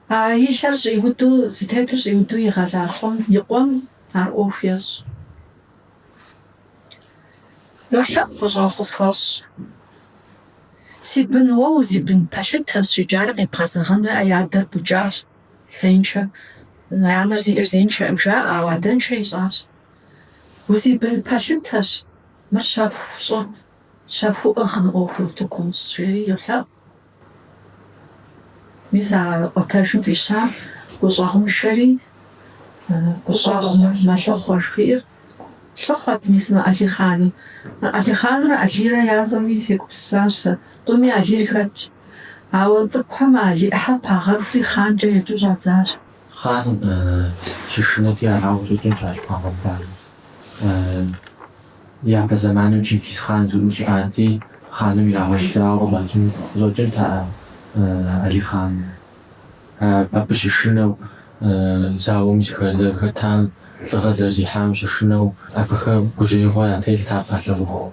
а и лъэр щӏиуду, зытетыр щӏиуду игъэлӏа лӏым и къуэм ар ӏуэху ещӏ. Йолъэӏу гущӏэгъу къысхуэщӏ. Си бын уэ узибын пэлъытэщ, иджы ар къебгъэзэгъэнуи, и адэр букӏащ, зеиншэ, анэр зиӏэр зеиншэӏым жаӏэ, ауэ адэншэ ищӏащ. Узибын пэлъытэщ. Мыр щэху щӏы, щэхуу ӏыгъ, мы ӏуэхур утыку умыщӏ, жери йолъэӏу. Мис а ӏуэтэжым фӏища гущӏэгъуншэри гущӏэгъу мэлъыхъуэ жыхуиӏэр лъыхъуэт мис мы Алихъани. Алихъанрэ Алирэ я цӏэми сегупсысащ сэ. Тӏуми Алир хэтщ. Ауэ цӏыкӏухэм Али ӏыхьэр пагъэхури хъанкӏэ еджэу щӏадзащ. Хъаным щышынэти арауэ къыщӏэкӏынщ ар щӏыпагъэхуар. Япэ зэманым Чингиз хъан зыгуэр щыӏати, хъаным ирагъэщхьауэ къыщӏэкӏын къыщӏэкӏынтэӏэ Алихъан. Абы щышынэу зауэм зэрыхэтам, лӏыгъэ зэрызихьам щышынэу абыхэм гужьеигъуэ ятелът ар ялъагъуху.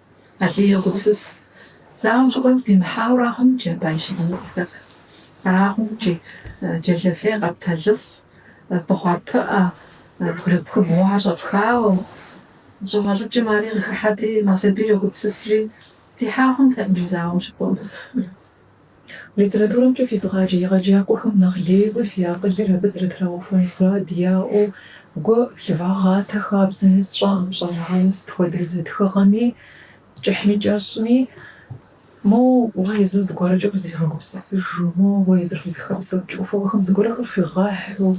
Алий йогупсыс, зауэм щыкӏуэм здимыхьауэ ара хъунщ жи абы и щыгъыныфӏхэр? Ара хъунщ жи, джэлэфей къэптэлыфӏ, бухъар пыӏэ, бгырыпх бгъуэ щӏэпхауэ. Щӏыгъэлӏыкӏым ари къыхыхьэти, мо сабийр йогупсысри, здихьа хъунтэкъым жи зауэм щыкӏуэм. Литературэмкӏэ физыгъаджэ егъэджакӏуэхэм нэхъ лейуэ фи акъылыр абы зэрытрагъэхуэн мурад яӏэу, гу лъывагъатэ хабзэми сщӏэӏым пщӏэрэ, ауэ, сыт хуэдэ зы тхыгъэми кӏыхьми кӏэщӏми, моуэ уэ езыр зыгуэркӏэ узригъэгупсысыжу, моуэ уэ езыр къызыхэпсэкӏыу, ӏуэхухэм зыгуэрхэр хуигъэхьу,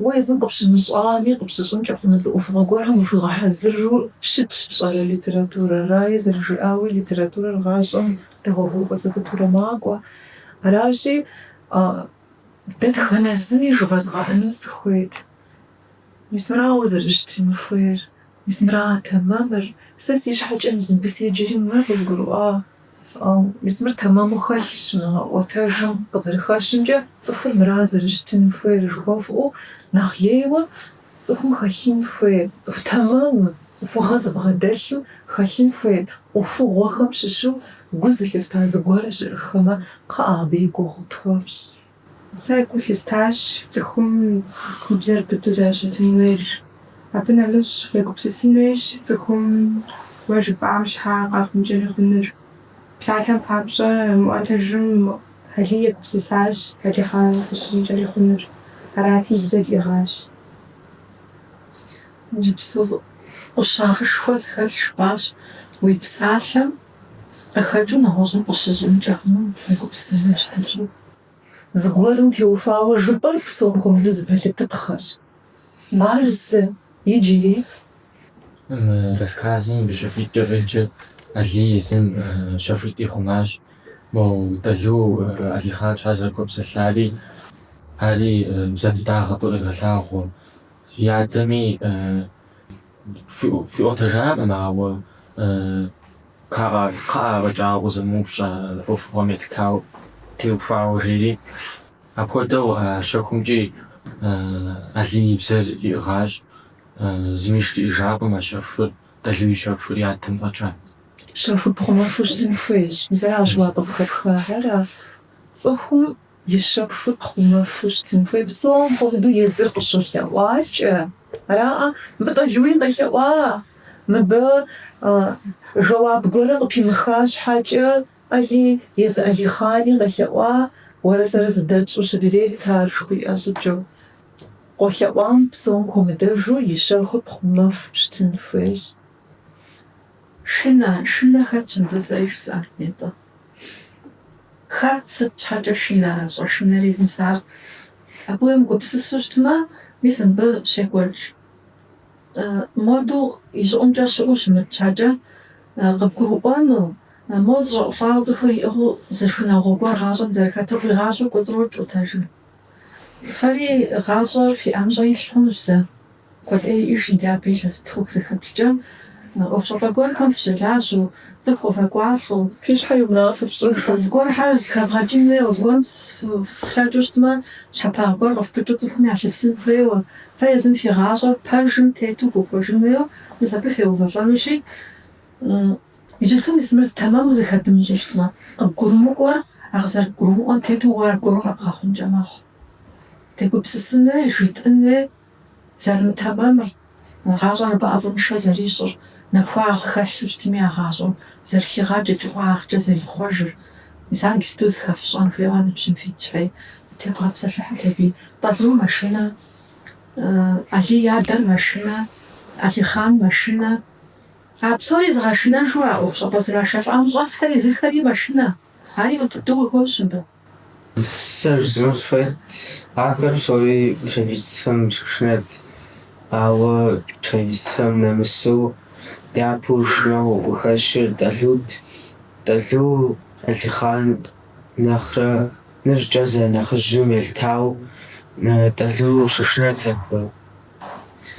уэ езым къыпщымыщӏами, къыпщыщӏынкӏэ хъуну зы ӏуэхугъуэ гуэрхэм ухуигъэхьэзыру щытщ пщӏэрэ литературэр. Араи зэрыжиӏауи, литературэр гъащӏэм Дэгъуэгурыкӏуэ зэпытурэ макӏуэ. Аращи, дэтхэнэ зыми жывэзгъэӏэну сыхуейт. Мис мырауэ зэрыщытын хуейр, мис мыра тэмэмыр. Сэ си щхьэкӏэ мыбы седжэри мыр къызгурыӏуа. Ау мис мыр тэмэму хэлъщ мы ӏуэтэжым къызэрыхэщымкӏэ, цӏыхур мыра зэрыщытын хуейр жыхуэфӏэу нэхъ лейуэ. Цӏыхум хэлъын хуейр, цӏыху тэмэму, цӏыхугъэ зыбгъэдэлъу хэлъын хуейр ӏуэхугъуэхэм щыщу гу зылъыфта зыгуэр щыӏыххэмэ, кхъыӏэ, абы и гугъу тхуэфщӏ. Сэ гу лъыстащ цӏыхум и бзэр быдэу зэрыщытын хуейр. Абы нэмыщӏ, фегупсысын хуейщ цӏыхум уэ жыпӏам щхьа къэхъункӏэ хъунур. Псалъэм папщӏэ, мы ӏуэтэжым Алий егупсысащ Алихъан къыщыщӏынкӏэ хъунур, арати и бзэр иӏыгъащ. Иджыпсту ӏущагъышхуэ зыхэлъ жыпӏащ, Уи псалъэм къыхэкӏыу нэгъуэщӏым къыщыщӏынкӏэ хъунум уегупсысыжа щытыкӏи. Зыгуэрым теухуауэ жыпӏэр псом хуэмыдэу зы пэлъытыпхъэщ. Ар зы иджыри. Мы рассказым щэхуитӏкӏэ щӏеджэ Алий езым щэхуитӏ ихъумащ, мо Тӏэлу Алихъан щхьэ зэрыхуэпсэлъари, ари бзэбыдагъэ къыуегъэлъагъуэ. И адэми хуиӏуэтэжакъым, ауэ кхъыӏэ афӏэкӏа укъызэмыупщӏ а ӏуэхугъуэм елъытауэ, теухуауэ, жери. Апхуэдэу а щэхумкӏи Алий и бзэр иӏыгъащ. Зыми жриӏэжакъым а щэхур, Тӏэлу и щэхур и адэм фӏэкӏа. Щэхур пхъумэфу щытын хуейщ. Мис аращ уэ къыхэпхар. Цӏыхум и щэхур пхъумэфу щытын хуей. Псом хуэмыдэу езыр къыщолъэӏуакӏэ араӏэ. Мыбы Тӏэлуи къелъэӏуа, мыбы жэуап гуэри къыпимыха щхьэкӏэ Алий езы Алихъани къелъэӏуа, уэрэ сэрэ зэдэтщӏэу щырет ар жыхуиӏэ щӏыкӏэу. Къолъэӏуам псом хуэмыдэжу и щэхур пхъумэфу щытын хуейщ. Шынэ, шынэ хэтщ мыбы, сэ жысӏар нетӏэ? Хэт, сыт щхьэкӏэ шынэрэ, щӏэшынэри зымысар? Абы уемыгупсысу щытмэ, мис мыбы щекӏуэкӏ. Модэ и щӏыӏумкӏэ щыӏэу щымыт щхьэкӏэ, къыбгурыӏуэну, моуэ зэщӏиӏулӏауэ цӏыхур иӏыгъыу зы шынагъуэ гуэр гъащӏэм зэрыхэтыр къуигъащӏэу кӏуэцӏрокӏ ӏуэтэжым. Фэри гъащӏэр фи ӏэмщӏэ илъ хъунущ зэ. Куэд иӏэжынт абы, илъэситху, илъэсих блэкӏмэ, ӏуэхущӏапӏэ гуэрхэм фыщылажьэу, цӏыху къывэкӏуалӏэу, фи щхьэ и унафэ фщӏын хуей зыгуэрхэр зэхэвгъэкӏын хуейуэ, зыгуэрым фыфлъэкӏыу щытмэ, щхьэпагъ гуэр къыфпыкӏыу цӏыхум ялъысын хуейуэ, фэ езым фи гъащӏэр пэжым тету вухуэжын хуейуэ, мис абы феувэлӏэнущи, Иджы дэ мис мыр тэмэму зыхэдмыщӏэу щытмэ, къыбгурымыӏуэр а къызэрыбгурымыӏуэм тету уэ аргуэру къэбгъэхъункӏэ мэхъу. Дегупсысын хуей, жытӏын хуей зэрымытэмэмыр, гъащӏэр абы ӏэфӏыншэ зэрищӏыр, нэхуагъ хэлъу щытми а гъащӏэм зэрыхигъаджэ кӏыфӏагъкӏэ зэрихъуэжыр, мис ар иджыпсту зыхэфщӏэн хуейуэ ныбжьым фитщи, дытевгъэпсэлъыхьыт абыи. Тӏэлу мэшынэ, Алий и адэр мэшынэ, Алихъан мэшынэ. А псори зыгъэшынэжу а ӏуэхущӏапӏэ зрашэлӏам щӏэсхэри езыхэри мэшынэ, ари мыпыту къыхощ мыбы. Сэ жысӏэну сыхуейт, ахэр псори правительствэм щышынэт, ауэ правительствэм нэмысу япэу шынэу къыхэщыр Тӏэлут. Тӏэлу Алихъан нэхърэ ныбжькӏэ зэрынэхъыжьым елъытауэ Тӏэлу щышынэт абы.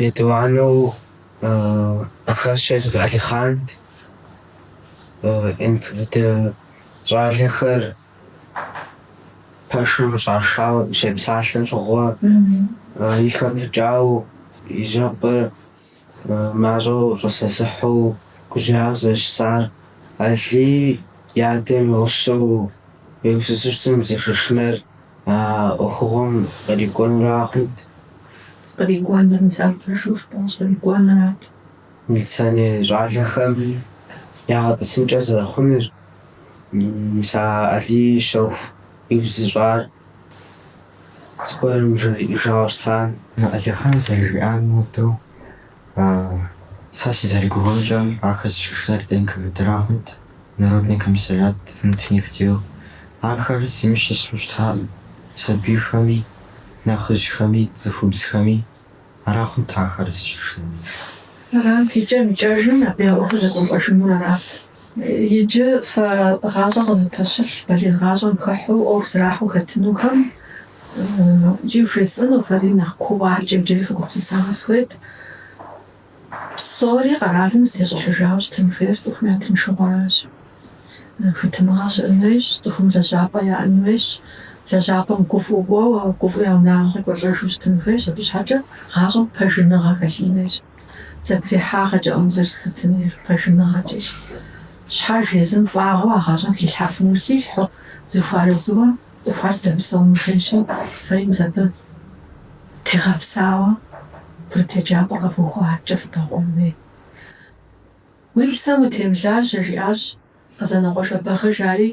Етӏуанэу къыхэщыр езы Алихъант. НКВД щӏалэхэр пэшым щӏашауэ щепсалъэм щыгъуэ и хэпщӏыкӏауэ, и жьэпӏэр мащӏэу щӏысэсыхьу гужьауэ зэрыщысар. Алий и адэм и гъусэу Иерусалим зыщышынэр А ӏуэхугъуэм кърикӏуэнурагъэнт. Кърикӏуэнур мис ар пэжу щытащ, кърикӏуэнурат. Милиционер щӏалэхэм ягъэтӏысынкӏэ зэрыхъунур, мис а Алий щэху иузыщӏар зыгуэрым жриӏэжауэ щытам. Алыхьым зэрыжиӏам хуэдэу, Сэ сызэрыгугъэмкӏэ, ахэр зыщышынэр НКВД-рагъэнт, Народный комиссариат внутренних дел. Ахэр зыми щысхьу щытакъым, сабийхэми, нэхъыжьхэми, цӏыхубзхэми. Арагъэнт ахэр зыщышынэри. Арат, икӏэм-икӏэжым абы я ӏуэхур зэкӏуэлӏэжынур арат. Иджы фэ гъащӏэ къызыпэщылъ балигъ гъащӏэм хыхьу ӏуэху зэрахьу хэтынухэм икӏи вжесӏэну, фэри нэхъ кууэ абыкӏэ иджыри фыгупсысауэ сыхуейт. Псори къэралым зытещӏыхьыжауэ щытын хуейр цӏыхум я тыншыгъуэращ. Хуитыныгъэ щыӏын хуейщ, цӏыхум лэжьапӏэ яӏэн хуейщ. Лэжьапӏэм гуфӏыу кӏуэуэ, гуфӏу я унагъуэ къекӏуэлӏэжу щытын хуейщ. Абы щхьэкӏэ гъащӏэм пэжыныгъэ хэлъын хуейщ. Бзэгузехьагъэкӏэкъым зэрызэхэтынур, пэжыныгъэкӏэщ. Щхьэж езым фӏыгъуэу а гъащӏэм хилъхьэфынур хилъхьэу зэхуэарэзыуэ цӏыхухэр зэдэпсэун хуейщи, фэри мис абы тегъэпсауэ курыт еджапӏэр къэвухыу адэкӏэ фыбэкъуэн хуей. Уи псэм утемылажьэ, жиӏащ. Къэзанокъуэ Жэбагъы жари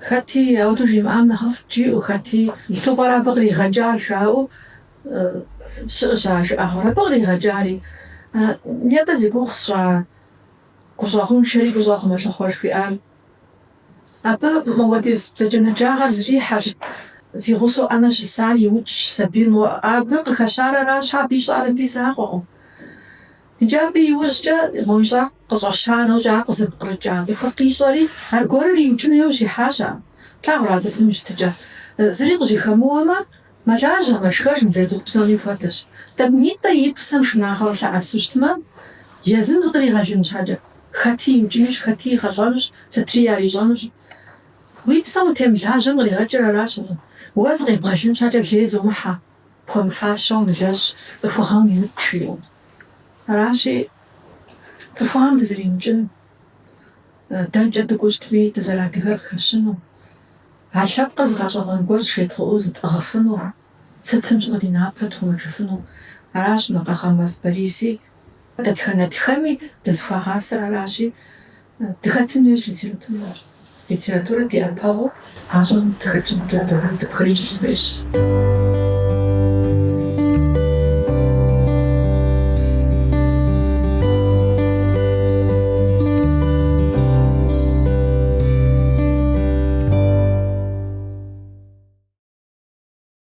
хэти ауэдэу жимыӏам нэхъыфӏ жиӏэу хэти, Сыту пӏэрэ абы къригъэкӏар жаӏэу щыӏэщ а жыӏэгъуэр. Абы къригъэкӏари, нетӏэ зи гугъу сщӏа гущӏэгъуншэри гущӏэгъу мэлъыхъуэ жыхуиӏар. Абы мы уэдиз бзаджэнаджагъэр зэрихьэщ, зи гъусэу ӏэнэ щысар иукӏщ сабийр. Мо абы къыхэщар аращ, абы ищӏар абы и закъуэкъым. Иджы абы и ужькӏэ мо ищӏар къыщӏэща нэужькӏэ къызыпкърыкӏа цӏыхур къищӏэри, аргуэрыр иукӏыну яужь ихьащ ар. Плъагъурэ а цӏыхум и щытыкӏэ? Зыри къыжьэхэмыуэмэ, мэлажьэ, мэшхэж мыдрей цӏыху псоми хуэдэщ. Тӏэкӏунитӏэ и псэм шынагъэу лъэӏэсу щытмэ, езым зыкъригъэлын щхьэкӏэ, хэти иукӏынущ, хэти игъэлӏэнущ, сытри ярищӏэнущ. Уи псэм утемылажьэм къригъэкӏыр аращ абы. Уэ зыкъебгъэлын щхьэкӏэ лей зумыхьэ. Пхуэмыфащэ умылэжь, цӏыхугъэм уимыкӏ жиӏэу. Аращи, цӏыхугъэм дызэримыкӏын, дэнкӏэ дыкӏуэу щытми дызэрадыгэр къыхэщыну, а лъэпкъыр зы гъэщӏэгъуэн гуэрщ жедгъэӏэу зытӏыгъыфыну, сытым щыгъуи ди напэр тхъумэжыфыну. Аращ мы Къагъырмэс Бориси Дэтхэнэ тхэми дызыхуагъасэр аращи, дыхэтын хуейщ литературэм. Литературэр ди ӏэпэгъуу гъащӏэм дыпхрыкӏын хуейщ.